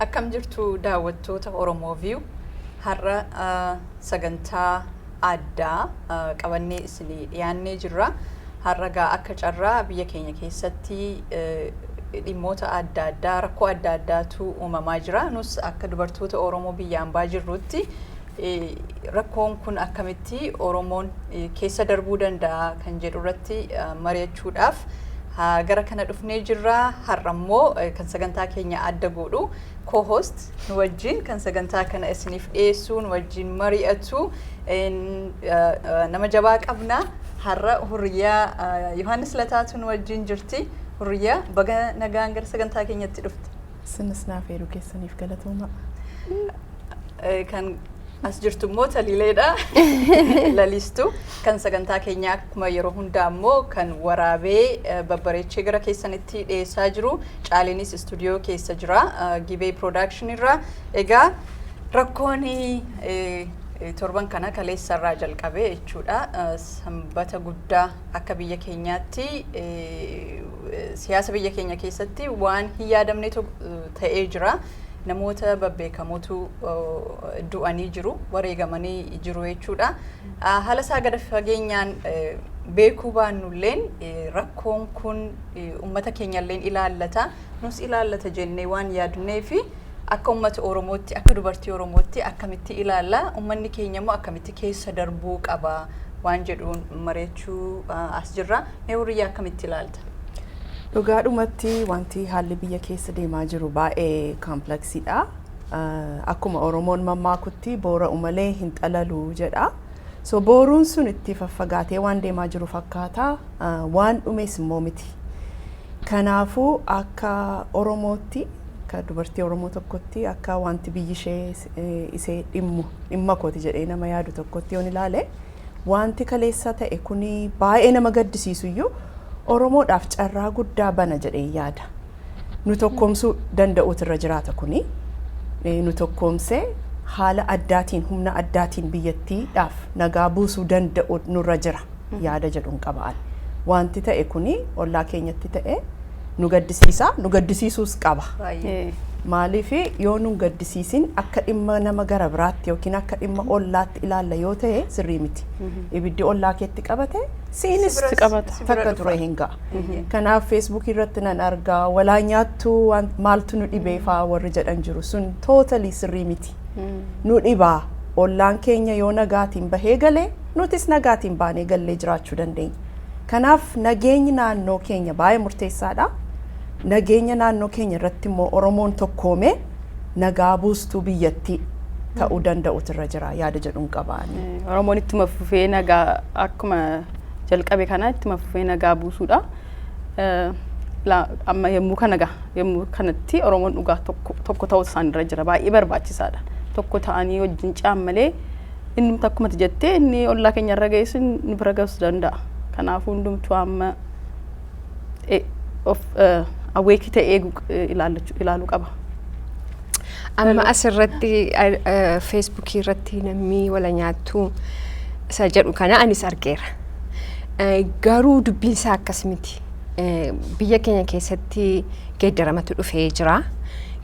Akkam jirtu daawwattoota Oromoo View har'a sagantaa addaa qabannee isinii dhiyaannee jirra. Har'a egaa akka carraa biyya keenya keessatti dhimmoota adda addaa rakkoo adda addaatu uumamaa jira. Nus akka dubartoota Oromoo biyya ambaa jirrutti rakkoon kun akkamitti Oromoon keessa darbuu danda'a kan jedhu irratti mari'achuudhaaf gara kana dhufnee jirra. Har'a immoo kan sagantaa keenya adda godhu co-host nu wajjin kan sagantaa kana isiniif dhiyeessuu nu wajjin mari'atu nama jabaa qabna har'a hurriyaa Yohaannis Lataatu nu wajjin jirti hurriyaa baga nagaan gara sagantaa keenyatti dhufte. Isinis naaf eeruu keessaniif galatooma. Kan As jirtu immoo taliileedha. Lalistu kan sagantaa keenyaa akkuma yeroo hundaa immoo kan waraabee eh, babbareechee gara keessanitti dhiyeessaa jiru. Caaliinis istuudiyoo keessa jira. eh, Gibee Production irraa. Egaa rakkoon eh, eh, torban kana kaleessa irraa jalqabee jechuudha. Eh, Sanbata guddaa akka biyya keenyaatti eh, eh, siyaasa biyya keenya keessatti waan hin yaadamne to- eh, ta'ee jira. namoota babbeekamotu du'anii jiru, wareegamanii jiru jechuudha. Haala isaa gada fageenyaan beekuu baannulleen rakkoon kun uummata keenyalleen ilaallata, nus ilaallata jennee waan yaadnee fi akka uummata Oromootti, akka dubartii Oromootti akkamitti ilaalla, uummanni keenya immoo akkamitti keessa darbuu qaba waan jedhuun mari'achuu as jirra. Mee hurriyyaa akkamitti ilaalta? Dhugaadhumatti wanti haalli biyya keessa deemaa jiru baay'ee kaampleksiidha. Akkuma Oromoon mammaakutti boora'u malee hin xalalu jedha. So booruun sun itti faffagaatee waan deemaa jiru fakkaata. Waan dhumees immoo miti. Kanaafuu akka Oromootti akka dubartii Oromoo tokkotti akka wanti biyyi ishee isee dhimmu dhimma kooti jedhee nama yaadu tokkotti yoon ilaale Waanti kaleessa ta'e kun baay'ee nama gaddisiisu iyyuu Oromoodhaaf carraa guddaa bana jedheen yaada. Nu tokkoomsuu danda'uutu irra jiraata kuni. Eh, Nu tokkoomsee haala addaatiin humna addaatiin biyyattiidhaaf nagaa buusuu danda'u nurra jira yaada jedhuun qaba'an. Waanti ta'e kuni ollaa keenyatti ta'e nu gaddisiisa nu gaddisiisuus qaba. Baay'ee. Maaliif yoo nun gaddisiisin akka dhimma nama gara biraatti yookiin akka dhimma ollaatti ilaalla yoo ta'e sirrii miti. Ibiddi ollaa keetti qabate siinis Si biras- qabata. si bira takka dhufa. ture hin ga'a. Eeyyee. Kanaaf feesbuukii irratti nan argaa walaa nyaattu waan- maaltu nu dhibee faa warri jedhan jiru sun tootalii sirrii miti. Nu dhibaa ollaan keenya yoo nagaatiin bahee galee nutis nagaatiin baanee gallee jiraachuu dandeenya. Kanaaf nageenyi naannoo keenya baay'ee murteessaadha. Nageenya naannoo keenya irratti immoo Oromoon tokkoomee nagaa buustuu biyyattii ta'uu danda'utu irra jira yaada jedhuun qaba. Oromoon ittuma fufee nagaa akkuma jalqabe kanaa ittuma fufee nagaa buusuudha. Amma yommuu kana gaha yommuu kanatti Oromoon dhugaa tokko ta'uu isaan irra jira baay'ee barbaachisaadha. Tokko ta'anii wajjin caammalee Inni akkuma jettee inni ollaa keenya irra ga'es nu bira ga'us danda'a. Kanaafuu hundumtuu amma e- of awweekii ta'e eegu ilaallachuu- ilaaluu qaba. Amma asirratti feesbuukii irratti namni wala nyaattu isa jedhu kana anis argeera. Eh, Garuu dubbiin isaa akkas miti. Eh, Biyya keenya keessatti geeddaramatu dhufee jira.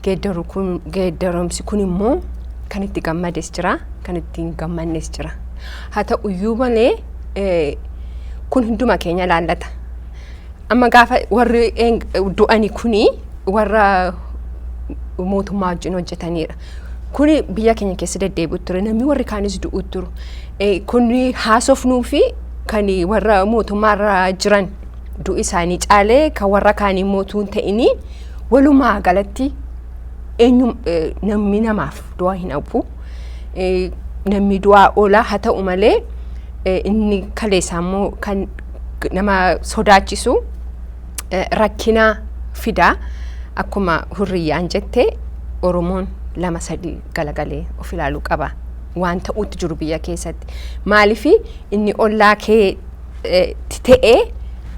geeddaru kun geeddaramsi kun immoo kan itti gammades jira kan itti hin gammannes jira haa ta'u iyyuu malee eh, kun hunduma keenya laallata amma gaafa warri een- du'ani kuni warra mootummaa wajjin hojjetaniidha. Kun biyya keenya keessa deddeebi'u ture. Namni warri kaanis du'u turu. Eh, Kun haasofnuu fi kan warra mootummaarra jiran du'i isaanii caalee kan warra kaanii mootuu hin ta'inii Walumaa galatti eenyu namni namaaf du'a hin hafu. Namni du'aa oola haa ta'u malee inni kaleessaa immoo kan nama sodaachisu rakkina fida. Akkuma hurriyyaan jette Oromoon lama sadii galagalee of ilaaluu qaba. Waan ta'utti jiru biyya keessatti. Maaliif inni ollaa kee ta'ee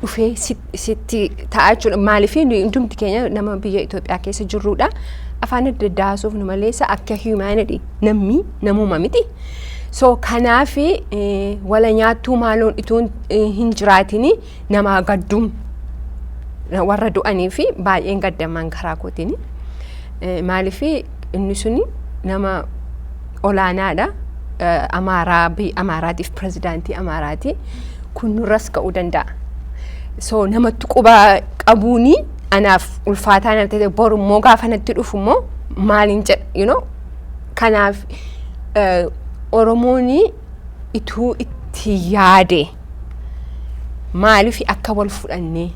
dhufee sitti sitti ta'a jechuudha. Maaliif hundumti keenya nama biyya Itoophiyaa keessa jirrudha. Afaan adda addaa haasofnu malee isa akka humanity namni namuma miti. So kanaaf wala nyaattuu maaloon itoo hin jiraatini namaa gadduun warra du'anii fi baay'een gaddaman karaa kootiin. Maaliif inni suni nama olaanaadha. Eh, Amaaraa, biyya Amaaraatiif pirezidaantii Amaaraati. Kun nurras ka'uu danda'a. So namatti quba qabuuni anaaf ulfaataa natti ta'e boru immoo gaafa natti dhufu immoo maaliin jedha you know kanaaf eh, Oromoon ituu itti yaade maaliif akka wal fudhannee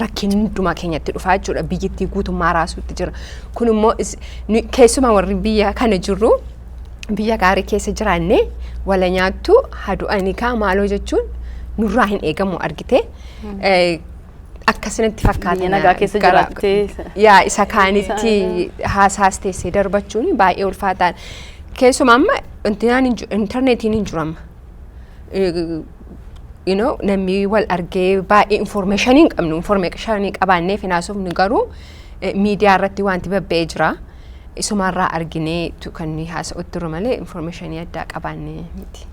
rakkinni hundumaa keenyatti dhufaa jechuudha. Biyyittii guutummaa raasuutti jira. Kun immoo keessumaa warri biyya kana jirru biyya gaarii keessa jiraanne wala nyaattu hadu'anii kaa maaloo jechuun nurraa hin eegamu argite. Akkasinitti fakkaata. Biyya nagaa keessa jiraattee. Yaa isa kaanitti haasaas teessee darbachuun baay'ee ulfaataan. Keessumaa amma intarneetiin hin jiru amma. you know, namni wal argee baay'ee informationii hin qabnu informationii qabaannee finaasofnu garuu eh, miidiyaa irratti wanti babba'ee jira isumarraa arginee tu- kan nuyi haasa'utti jiru malee informationii addaa qabaannee miti.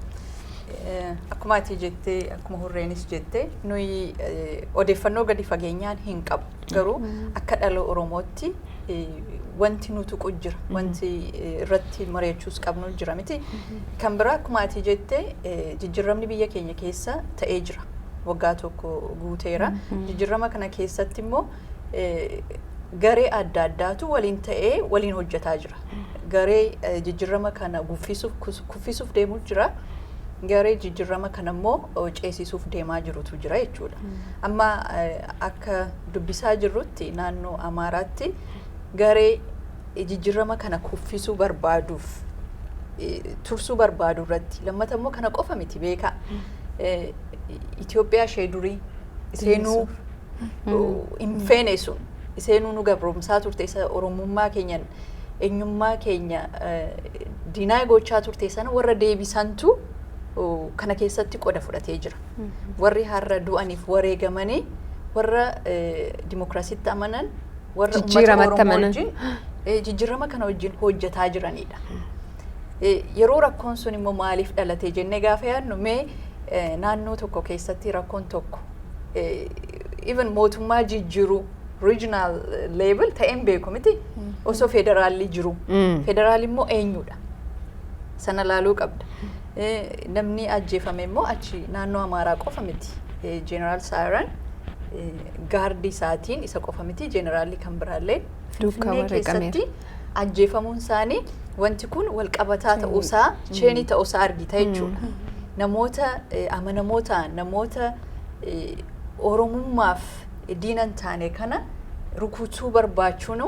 Eh, Akkuma ati jettee akkuma hurreenis jettee nuyi eh, odeeffannoo gadi fageenyaan hin qabu. Garuu akka dhala Oromootti wanti nu tuqu jira. Wanti irratti mari'achuus qabnu jira miti. Kan biraa akkuma ati jette jijjiiramni biyya keenya keessa ta'ee jira. Waggaa tokko guuteera. Jijjiirama kana keessatti immoo garee adda addaatu waliin ta'ee waliin hojjetaa jira. Garee jijjiirama kana guffisuuf kuffisuuf deemu jira. Garee jijjiirama kana immoo ceesisuuf deemaa jirutu jira jechuudha. Amma akka dubbisaa jirrutti naannoo Amaaraatti garee jijjirrama kana kuffisuu barbaaduuf tursuu barbaadu irratti lammata immoo kana qofa miti beekaa. Itoophiyaa ishee durii iseenuu hin feene sun iseenuu nu gabroomsaa turte isa oromummaa keenya eenyummaa keenya diinaa gochaa turte sana warra deebisantu kana keessatti qoda fudhatee jira. Warri har'a du'aniif wareegamanii warra dimokiraasiitti amanan warra uummata Oromoo wajjin jijjiirama kana wajjin hojjetaa jiranidha. Yeroo rakkoon sun immoo maaliif dhalatee jennee gaafa yaadnu mee naannoo tokko keessatti rakkoon tokko even mootummaa jijjiiruu regional level ta'een beeku miti osoo federaalli jiru. Federaalli immoo eenyudha? Sana laaluu qabda. Namni ajjeefame immoo achi naannoo Amaaraa qofa miti. Jeneraal Saayiraan gaardii isaatiin isa qofa miti. Jeneraalli kan biraallee Finfinnee keessatti ajjeefamuun isaanii wanti kun wal qabataa ta'uusaa cheenii ta'uusaa argita jechuudha. Namoota amanamoo ta'an namoota Oromummaaf diina hin taane kana rukutuu barbaachuun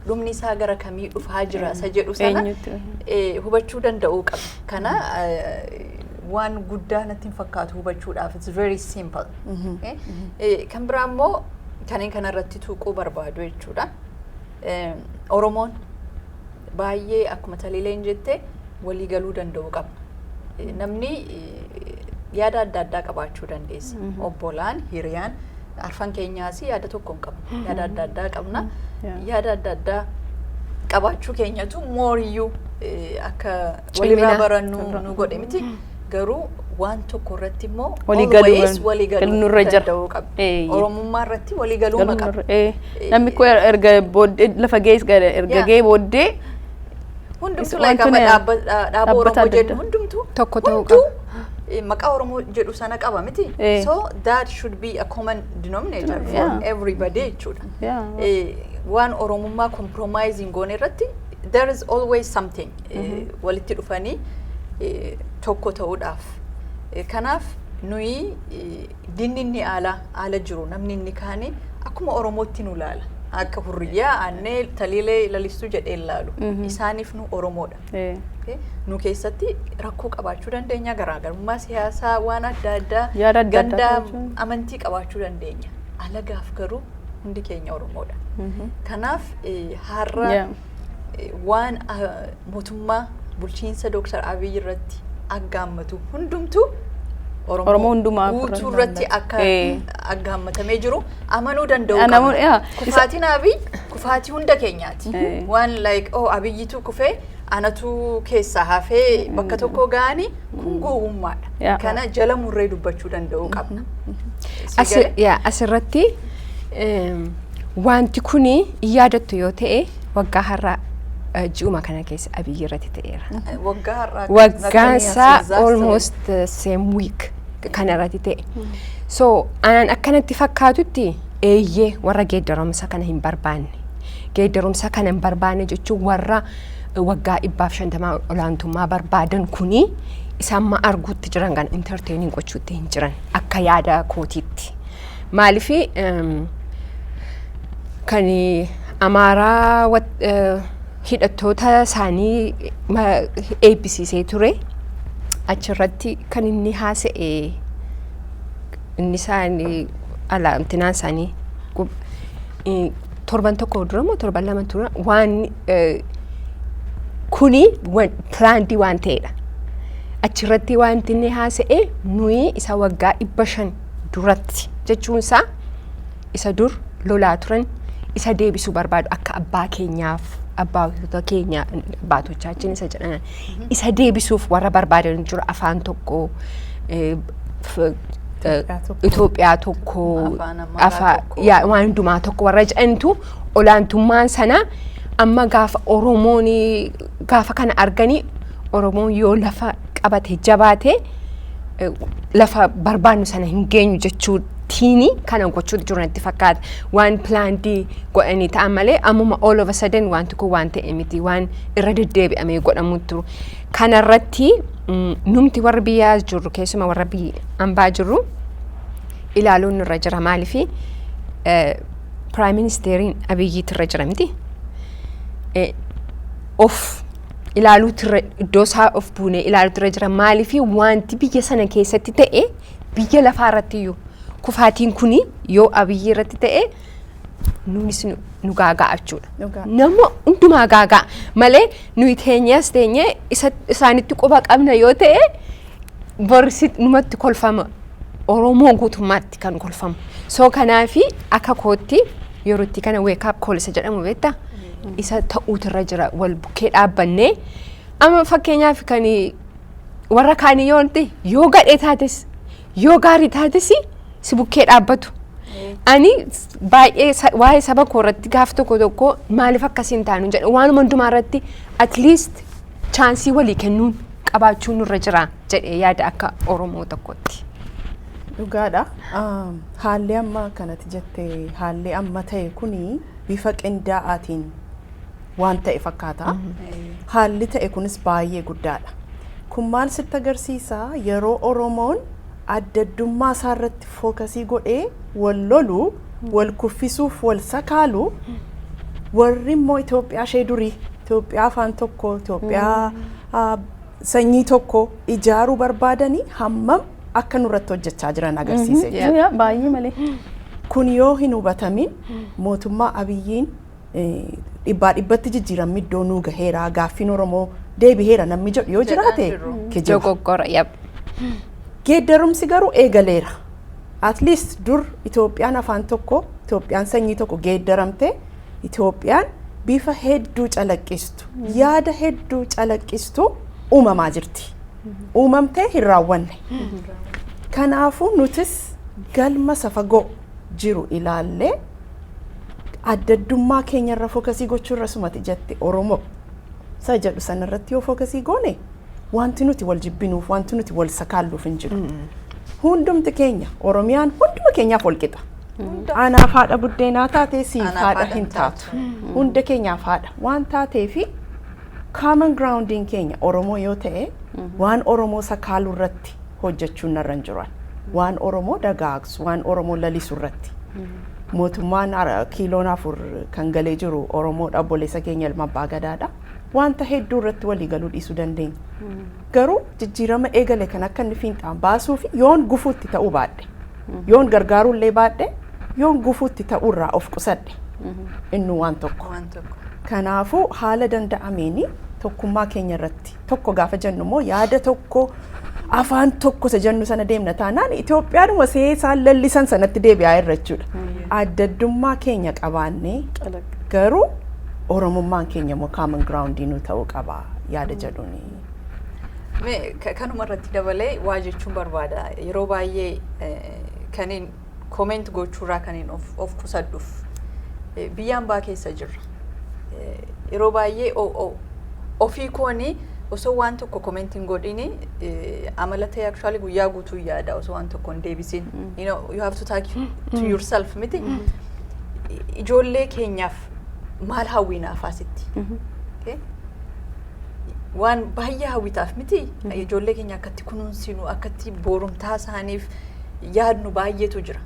dhumni isaa gara kamii dhufaa jira isa jedhu sana Eenyutu? eh, hubachuu danda'uu qaba. Kana eh, waan guddaa natti hin fakkaatu hubachuudhaaf it's very simple. Eh, eh, Kan biraa immoo kanneen kanarratti tuquu barbaadu jechuudha. Eh, Oromoon baay'ee akkuma Taliileen jette walii galuu danda'uu qabna. Eh, Namni eh, yaada adda addaa qabaachuu dandeessa. Obbolaan, hiriyaan, arfan keenyaas yaada tokko hin qabnu. Yaada adda addaa qabna. Yeah. Yaada adda addaa qabaachuu keenyatu mooriyyuu eh, akka walirraa barannu nu godhe miti garuu waan tokko irratti immoo always waliigaluu danda'uu qabna oromummaa irratti waliigaluu maqaba namni koo erga booddee lafa gees erga gee booddee hundumtuu laakama dhaaba oromoo jedhu hundumtuu tokko ta'uu qaba maqaa oromoo jedhu sana qaba miti so that should be a common denominator for everybody jechuudha waan oromummaa compromising goone irratti there is always something walitti dhufanii tokko ta'uudhaaf. Kanaaf nuyi dinni inni aala aala jiru namni inni kaani akkuma Oromootti nu laala. Akka hurriyyaa aannee taliilee lalistuu jedhee laalu. Isaaniif nu Oromoodha. Nu keessatti rakkoo qabaachuu dandeenya garaagarummaa siyaasaa waan adda addaa ganda amantii qabaachuu dandeenya. Alagaaf garuu hundi keenya Oromoodha. Kanaaf har'a waan mootummaa bulchiinsa Dooktar Abiy irratti aggaammatu hundumtuu Oromoo hundumaa guutuu irratti akka aggaammatamee jiru amanuu danda'u qabna. Kufaatiin Abiy kufaatii hunda keenyaati. Waan like oh Abiyyitu kufee anatu keessaa hafee bakka tokko ga'anii kun gowwummaadha. Kana jala murree dubbachuu danda'u qabna. Asirratti Wanti kun in yaadattu yoo ta'e waggaa har'aa eh, ji'uma kana keessa abiyyi irratti ta'eera. Waggaa har'aa Waggaan isaa almost uh, same week kana irratti ta'e. So anaan akkanatti fakkaatutti eeyyee warra geeddarumsa kana hin barbaanne. Geeddarumsa kana hin barbaanne jechuun warra uh, waggaa dhibbaaf shantamaa olaantummaa barbaadan kuni isa amma arguutti jiran kan entertaining gochuutti hin jiran akka yaada kootiitti. Maaliif kan Amaaraa hidhattoota isaanii eebbisiisee ture achirratti kan inni haasa'e inni isaanii alaantinaan isaanii torban tokko dura moo torban lama dura waan kuni pilaandii waan ta'edha. Achirratti wanti inni haasa'e nuyi isa waggaa dhibba shan duratti jechuun isaa isa dur lolaa turan isa deebisuu barbaadu akka abbaa keenyaaf abbaatota keenya abbaatochaachiin isa jedhan isa deebisuuf warra barbaadan jiru afaan tokko eh, f- eh, Itoophiyaa tokko. Itoophiyaa tokko Afaan Amaaraa afaa- tokko. yaa- waan hundumaa tokko warra jedhantu olaantummaan sana amma gaafa Oromoon gaafa kana arganii Oromoon yoo lafa qabate jabaate eh, lafa barbaannu sana hin geenyu jechuutiini kana gochuu jiru natti fakkaata. Waan pilaandii godhanii ta'an malee ammuma all of a sudden wanti kun waan ta'e miti waan irra deddeebi'amee godhamu turu. Kanarratti mm, numti warri biyyaa jirru keessumaa warra biyya ambaa jirru ilaaluun irra jira maaliifi eh, piraayim ministeeriin abiyyiitu irra jira miti. of ilaaluutirra iddoo isaa of buunee ilaaluutirra jira maaliif wanti biyya sana keessatti ta'e biyya lafaa irratti iyyuu kufaatiin kun yoo abiyyi irratti ta'e nuunis nu gaaga'a jechuudha. Nama hundumaa gaaga'a malee nuyi teenyees teenyee isaanitti quba qabna yoo ta'e Bor si numatti kolfama. Oromoo guutummaatti kan kolfamu. So kanaafi akka kootti yeroo itti kana wake up call isa jedhamu beektaa? Isa ta'uutu irra jira wal bukkee dhaabbannee. Amma fakkeenyaaf kan warra kaanii yoo ta'e yoo gadhee taates yoo gaarii taates si bukkee dhaabbatu. Ani s- baay'ee sa- waa'ee saba koo irratti gaaf tokko tokko maaliif akkasiin taanu jedha waanuma hundumaa irratti at least chaansii walii kennuun qabaachuu nurra jira jedhee yaada akka Oromoo tokkotti. Dhugaadha. Haalli amma kanatti jette haalli amma ta'e kun bifa qindaa'aatiin waan ta'e fakkaata. Haalli ta'e kunis baay'ee guddaadha. Kun maal sitti agarsiisa yeroo Oromoon adda addummaa isaa irratti fookasii godhee wal lolu, wal kuffisuuf wal sakaalu warri immoo Itoophiyaa ishee durii Itoophiyaa afaan tokko Itoophiyaa a Sanyii tokko ijaaruu barbaadanii hammam akka nurratti hojjechaa jiran agarsiise jechuudha. Yaa baay'ee malee. Kun yoo hin hubatamin mootummaa Abiyyiin eh, dhibbaa dhibbatti jijjiiramni iddoo nuu gaheera gaaffiin Oromoo deebiheera namni jedhu yoo Jedhaa jiraate jiru. kijiba. Dogoggora. Yap. Geeddarumsi garuu eegaleera. At least dur Itoophiyaan afaan tokko, Itoophiyaan sanyii tokko geeddaramtee Itoophiyaan bifa hedduu calaqqistu, yaada hedduu calaqqistu uumamaa jirti. Uumamtee hin raawwanne. Kanaafuu nutis galma isa fagoo jiru ilaallee addaddummaa keenyarra fookasii gochuurra sumati jette Oromoo isa jedhu sanarratti yoo fookasii goone wanti nuti wal jibbinuuf wanti nuti wal sakaalluuf hin jiru. Hundumti keenya Oromiyaan hunduma keenyaaf wal qixa. Anaaf haadha buddeenaa taatee siif Anaaf haadha haadha hin hin taatu. taatu. Hunda keenyaaf haadha waan taatee fi common groundiin keenya Oromoo yoo ta'e waan Oromoo sakaaluu irratti hojjechuun narra hin jiran. Waan Oromoo dagaagsu, waan Oromoo lalisu irratti. Mootummaan ara- kiiloon afur kan galee jiru Oromoo dhabboleessa keenya ilma abbaa gadaadha. Wanta hedduu irratti walii galuu dhiisuu dandeenya. Garuu jijjiirama eegale kan akka inni fiinxaan baasuu fi yoon gufuutti ta'uu baadhe. Yoon gargaaruu illee baadhe yoon gufuutti ta'uu irraa of qusadhe innuu waan tokko. Waan tokko. Kanaafuu haala danda'ameen tokkummaa keenya irratti tokko gaafa jennu immoo yaada tokko afaan tokko isa jennu sana deemna taanaan Itoophiyaadhuma seesaan lallisan sanatti deebi'aa irra jechuudha. Adda addummaa keenya qabaannee Calaqqa. garuu Oromummaan keenya immoo common ground nu ta'uu qaba yaada jedhuuni. Me ka- kanuma irratti dabalee waa jechuun barbaada yeroo baay'ee eh, kanin koment gochuurraa kanin of, of qusadhuuf eh, biyya ambaa keessa jirra Eh, yeroo baay'ee o- o- ofii kooni osoo waan tokko koment hin godhini eh, amala ta'e actually guyyaa guutuu yaada osoo waan tokko hin deebisin you know you have to talk to yourself miti ijoollee keenyaaf maal hawwiinaaf asitti okay? waan baay'ee hawwitaaf miti ijoollee keenya akkatti kunuunsinu akkatti boorumtaa isaaniif yaadnu baay'eetu jira.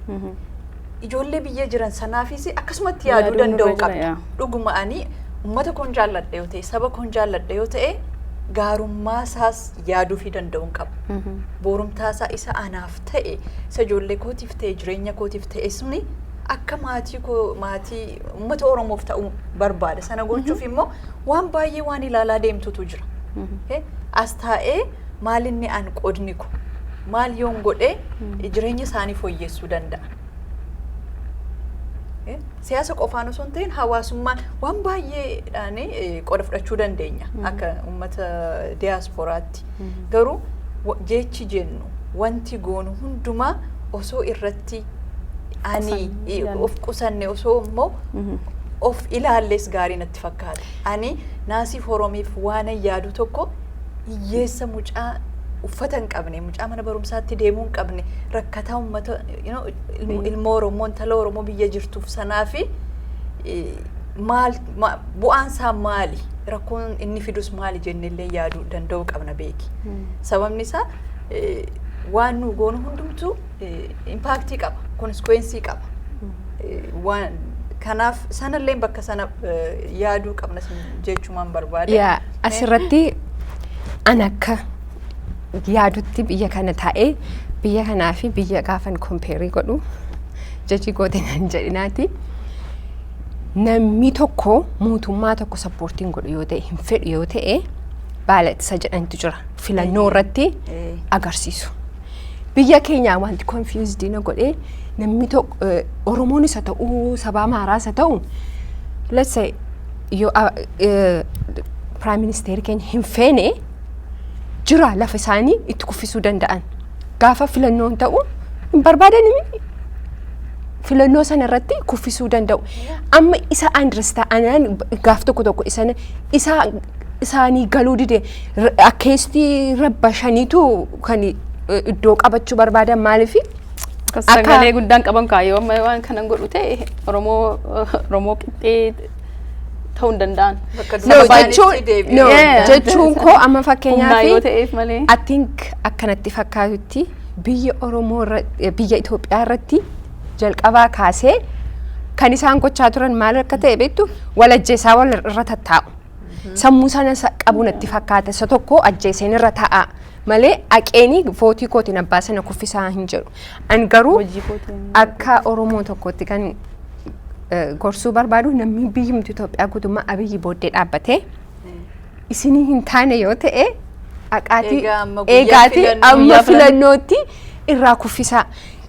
Ijoollee biyya jiran sanaafis akkasumatti yaaduu Yaaduu danda'u nurra jira, qabda. yaa. Dhuguma ani uummata koon jaalladha yoo ta'e saba koon jaalladha yoo ta'e gaarummaa isaas yaaduu fi danda'uun qaba. Boorumtaa isaa isa anaaf ta'e isa ijoollee kootiif ta'e jireenya kootiif ta'e suni akka maatii koo maatii uummata Oromoof ta'uu barbaada. Sana gochuuf immoo waan baay'ee waan ilaalaa deemtutu jira. Okay? As taa'ee maal inni an qodni ko maal yoon godhee jireenya isaanii fooyyessuu danda'a. Okay? Siyaasa qofaan osoo hin ta'in hawaasummaan waan baay'eedhaan eh, qooda fudhachuu dandeenya akka uummata diyaaspooraatti. Garuu wa- jechi jennu wanti goonu hundumaa osoo irratti ani Qusanne, eh, of qusanne osoo immoo of ilaalles gaarii natti fakkaata. Ani Naasii Fooromiif waanan yaadu tokko hiyyeessa mucaa uffata hin qabne, mucaa mana barumsaatti deemuu hin qabne, rakkataa uummata you know, ilmo- ilmoo Oromoo, intala Oromoo biyya jirtuuf sanaa fi eh, maal ma- bu'aan isaa maali? Rakkoon inni fidus maali jennee illee yaaduu danda'uu qabna beeki. Sababni isaa eh, waan nu goonu hundumtuu impaaktii qaba, konsikwensii qaba. Waan kanaaf sanallee bakka sana yaaduu qabna jechumaan barbaade. Yaa asirratti an akka yaadutti biyya kana taa'ee biyya kanaa fi biyya gaafan kompeerii godhu jechii goote nan jedhinaati. Namni tokko mootummaa tokko sappoortiin godhu yoo ta'e hin fedhu yoo ta'e baalatisa jedhantu jira filannoo irratti agarsiisu. Biyya keenyaa wanti confused na godhee namni tokko eh, Oromoonis haa ta'u sabaa maaraas haa ta'u let's say yoo ah, eh, prime minister keenya hin feene jira lafa isaanii itti kuffisuu danda'an gaafa filannoon ta'u hin barbaadanimi filannoo sana irratti kuffisuu danda'u. Amma isa andirista anaan gaaf tokko tokko isa isa isaanii galuu dide akkeestii rabba shaniitu kan iddoo qabachuu barbaadan maaliif sagalee guddaan qaban kaayoo amma waan kanan godhu ta'e oromoo oromoo qixxee ta'uu hin danda'an. jechuun koo amma fakkeenyaaf I think akkanatti fakkaatutti biyya oromoo biyya Itoophiyaa irratti jalqabaa kaasee kan isaan gochaa turan maal akka ta'e beektu walajjeessaa wal irra tattaa'u. Sammuu sana sa- qabu natti fakkaata. Isa tokko ajjeeseen irra ta'a malee aqeenii vootii kootiin abbaa sana kuffisaa hin jedhu. An garuu Hojii kootiin. akka Oromoo tokkootti kan eh, gorsuu barbaadu namni biyyumti Itoophiyaa guutummaa abiyyi booddee dhaabbatee isinii hin taane yoo ta'e aqaatii Egaa amma guyyaa eegaatii filannoo- amma guyyaa filan- filannootti irraa kuffisaa.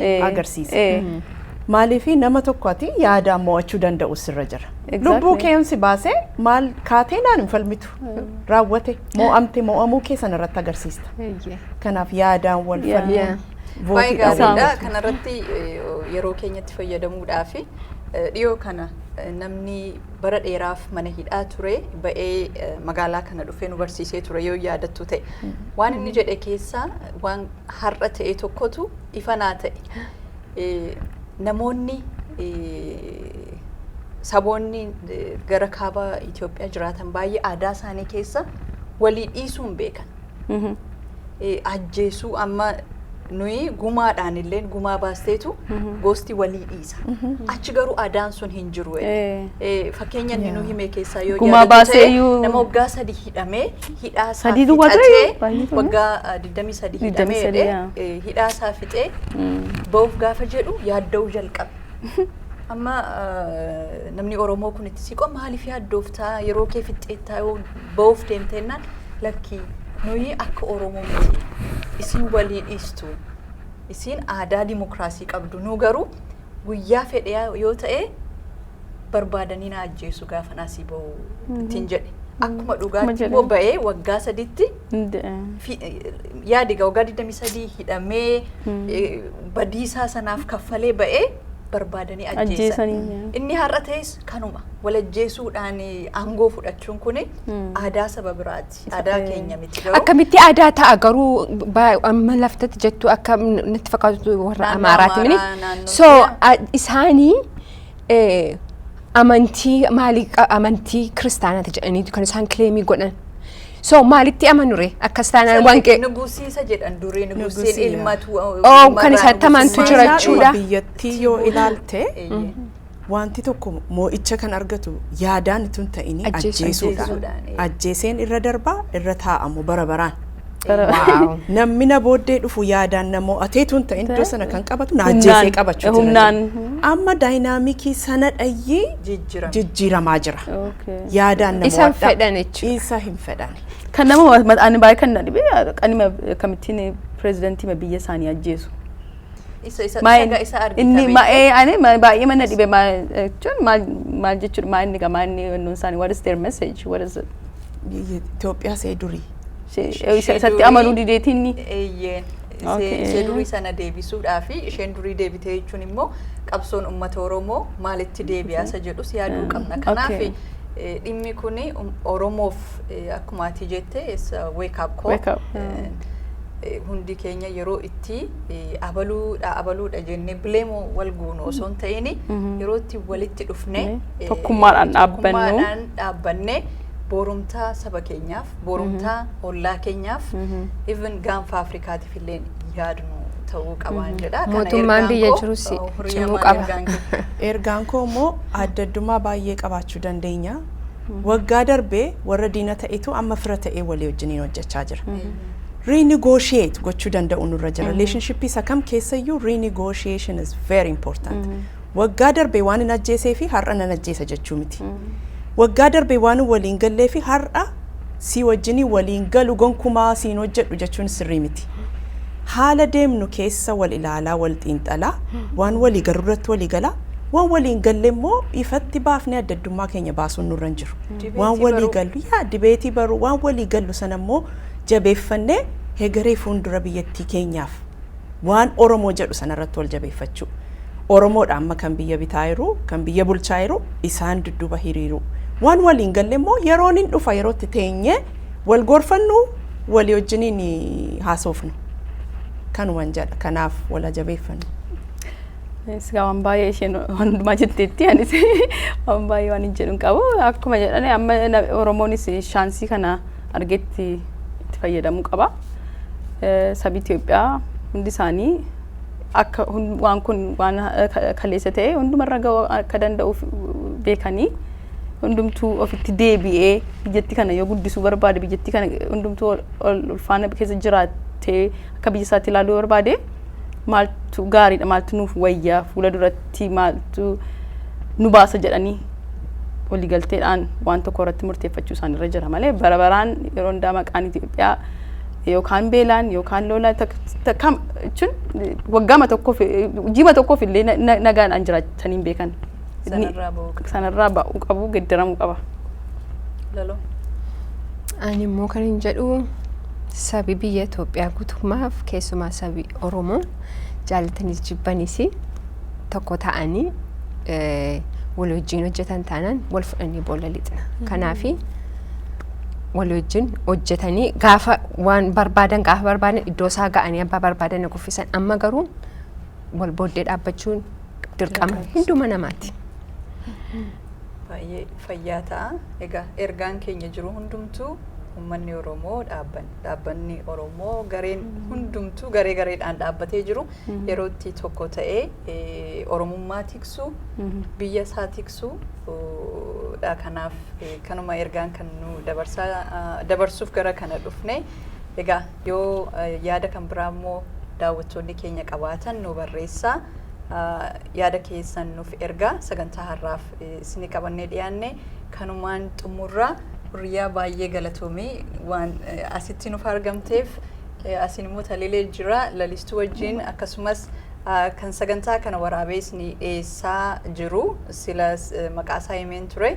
Eh, agarsiisa. eh. Maaliif nama tokko ati yaadaan mo'achuu danda'u sirra jira. Exactly. Lubbuu kee yoon si baasee maal kaatee naan hin falmitu. Raawwate mo'amte mo'amuu kee sana irratti agarsiista. Eeyyee. Kanaaf yaadaan wal Yeah. falmuun Yeah. Baay'ee vootii dhabuun gaariidha. Isaan- Kanarratti eh, yeroo keenyatti fayyadamuudhaa fi eh, dhiyoo kana eh, namni bara dheeraaf mana hidhaa ture ba'ee eh, magaalaa kana dhufee nu barsiisee ture yoo yaadattu ta'e. Waan inni jedhe keessaa waan har'a ta'e tokkotu ifa naa ta'e. Namoonni saboonni gara kaaba Itoophiyaa jiraatan baay'ee aadaa isaanii keessa walii dhiisuu hin beekan. Ajjeesuu amma nuyi gumaadhaan illee gumaa baasteetu gosti walii dhiisa. barsiisa. Achi garuu adaan sun hin jiru. Fakkeenya inni nu hime keessaa yoo Gumaa yaadatu baasee ta'e iyyuu- nama waggaa sadii hidhamee hidhaa isaa Sadii duwwaa ta'e fixatee baay'ee ture. waggaa 23 hidhamee 23, jedhee yaa. eh, hidhaa isaa fixee ba'uuf gaafa jedhu yaadda'uu jalqabe. Amma eh, namni Oromoo kun itti siqoo maaliif yaaddooftaa yeroo kee fixxeettaa yoo ba'uuf deemteennaan lakkii nuyi akka Oromoo miti isin walii dhiistu Isiin aadaa dimokiraasii qabdu. Nuu garuu guyyaa fedhe yoo ta'e barbaadanii na ajjeesu gaafa naasii ba'u ittiin jedhe. Akkuma dhugaatti immoo ba'ee waggaa sadiitti yaadi waggaa 23 hidhamee badiisaa sanaaf kaffalee ba'ee barbaadanii ajjeesan. Inni har'a ta'es kanuma wal ajjeesuudhaan aangoo fudhachuun kun aadaa saba biraati. Aadaa keenya miti garuu. Akkamitti aadaa ta'a garuu ba- amma laftatti jettu akka n- natti fakkaatu warra Naannoo Amaaraati mini. Amaaraa, naannoo So Oromiyaa. a- isaanii eh, amantii maalii qa- amantii kiristaanaati jedhaniitu kan isaan kileemii godhan. So maalitti amanure akkas taanaan waan qe- Nugusiisa jedhan durii nugusiin Nugusiidha. ilmatu. Oh, kan isa tamantu jira jechuudha. biyyattii yoo ilaalte Eeyyee. Waanti tokko moo'icha kan argatu yaadaan utuu hin ta'in Ajjeesuudhaan. ajjeesuudhaan. Ajjeesuudhaan, ee. Ajjeeseen irra darba, irra taa'a immoo bara baraan. Waaw. Namni na booddee dhufu yaadaan na mo'atee utuu hin ta'in iddoo sana kan qabatu na Humnaan, ajjeesee qabachuu jira. humnaan. Amma daayinaamikii sana dhayyee Jijjiirame. jijjiiramaa jira. Okay. Yaadaan na Isa hin mo'adha. fedhan jechuudha. Isa hin fedhan. Kan nama ani baay'ee kan na dhibe kan hima akkamittiin pirezidantii biyya isaanii ajjeesu. Isa isa Maal- isa isa argita inni beektu. ma- ee, ani ma- baay'ee mana dhibe ma- eh, jechuun maal maal jechuudha maa inni gamaa inni wannoon isaanii what is their message what is it Biyya Itoophiyaa see durii. Ishee- Ishee eh, isa- isatti durii- amanuu dideetii inni Eeyyee. Okay. Ishee ishee durii sana deebisuudhaa fi isheen durii deebitee jechuun immoo qabsoon uummata Oromoo maalitti deebi'aa isa jedhus yaaduu Mm. qabna. Kanaaf Okay. eh, dhimmi kun Oromoof eh, akkuma ati jette wake up call. Wake up, yeah. Eh, hundi keenya yeroo itti abaluudha abaluudha jennee bileemoo wal goonu osoo hin ta'in yeroo itti walitti dhufne tokkummaadhaan dhaabbanne boorumtaa saba keenyaaf boorumtaa ollaa keenyaaf even gaanfa Afrikaatiif illee yaadnu ta'uu qabaan jedha. Mootummaan biyya jirus cimuu qaba. Ergaan koo immoo adda addummaa baay'ee qabaachuu dandeenya. Waggaa darbe warra diina ta'etu amma fira ta'ee walii wajjiniin hojjechaa jira. Renegotiate gochuu danda'u nurra jira. Relationship isa kam keessayyuu renegotiation is very important. Waggaa darbe waan hin ajjeesee fi har'a nan ajjeesa jechuu miti. Waggaa darbe waan hin waliin gallee fi har'a sii wajjinii waliin galu gonkumaa siin hojjedhu jechuun sirrii miti. Haala deemnu keessa wal ilaalaa wal xiinxalaa waan walii garuu irratti walii galaa Waan walii hin galle immoo ifatti baafnee adda addummaa keenya baasuun nurra hin jiru. Waan walii gallu yaa dibeetii baruu waan walii gallu sana immoo jabeeffannee hegeree fuuldura biyyattii keenyaaf waan Oromoo jedhu sana irratti wal jabeeffachuu. Oromoodha amma kan biyya bitaa jiru, kan biyya bulchaa jiru isaan dudduuba hiriiruu. Waan walii hin galle immoo yeroon hin dhufa yeroo itti teenyee wal gorfannu walii wajjiniin haasoofnu. Kanuman jedha kanaaf wal haa jabeeffannu. Sigaa waan baay'ee isheen waan hundumaa jetteetti anis waan baay'ee waan hin jedhu hin qabu akkuma jedhan amma na- oromoonis shaansii kana argetti itti fayyadamuu qaba Eh, sabi Itoophiyaa hundi isaanii akka hun- waan kun waan eh, ka- kaleessa ta'e hundumarra ga'uu akka danda'uuf beekanii hundumtuu ofitti deebi'ee biyyatti kana yoo guddisuu barbaade biyyatti kana hundumtuu ol- ol ulfaana keessa jiraatee akka biyya isaatti ilaaluu barbaade maaltu gaariidha maaltu nuuf wayyaa fuula duratti maaltu nu baasa jedhanii waliigalteedhaan waan tokko irratti murteeffachuu isaan irra jira malee bara baraan yeroo hundaa maqaan Itoophiyaa yookaan beelaan yookaan lola jechuun waggaama tokkoof jiima tokkoof illee nagaadhaan jiraatanii hin beekan. Sanarraa ba'uu qaba. sanarraa ba'uu qabu geddaramuu qaba. Laloo. Ani immoo kan hin jedhu sabi biyya Itoophiyaa guutummaaf keessumaa sabi Oromoo jaallataniis jibbanis tokko ta'anii eh, wal wajjin hojjetan taanaan wal fudhanii boolla lixna. Kanaafi wal wajjin hojjetanii gaafa waan barbaadan gaafa barbaadan iddoo isaa ga'anii abbaa barbaadan na kuffisan amma garuu wal booddee dhaabbachuun dirqama hunduma namaati. Baay'ee fayyaa ta'a. Egaa ergaan keenya jiru hundumtuu uummanni Oromoo dhaabban- dhaabbanni Oromoo gareen hundumtuu garee gareedhaan dhaabbatee jiru yeroo itti tokko ta'ee eh, Oromummaa tiksuu biyya isaa tiksuu oh, dha. Kanaaf eh, kanuma ergaan kan nu dabarsaa ah, dabarsuuf gara kana dhufne. Egaa Yoo yaada kan biraa immoo daawwattoonni keenya qabaatan nu barreessaa. Yaada keessan nuuf ergaa sagantaa har'aaf isinii qabannee dhiyaanne kanumaan xumurra. Hurriyaa baay'ee galatoomii waan asitti nuuf argamteef asiin immoo talilee jira lalistuu wajjin akkasumas kan sagantaa kana waraabee isinii dhiyeessaa jiru sila maqaasaa himeen ture.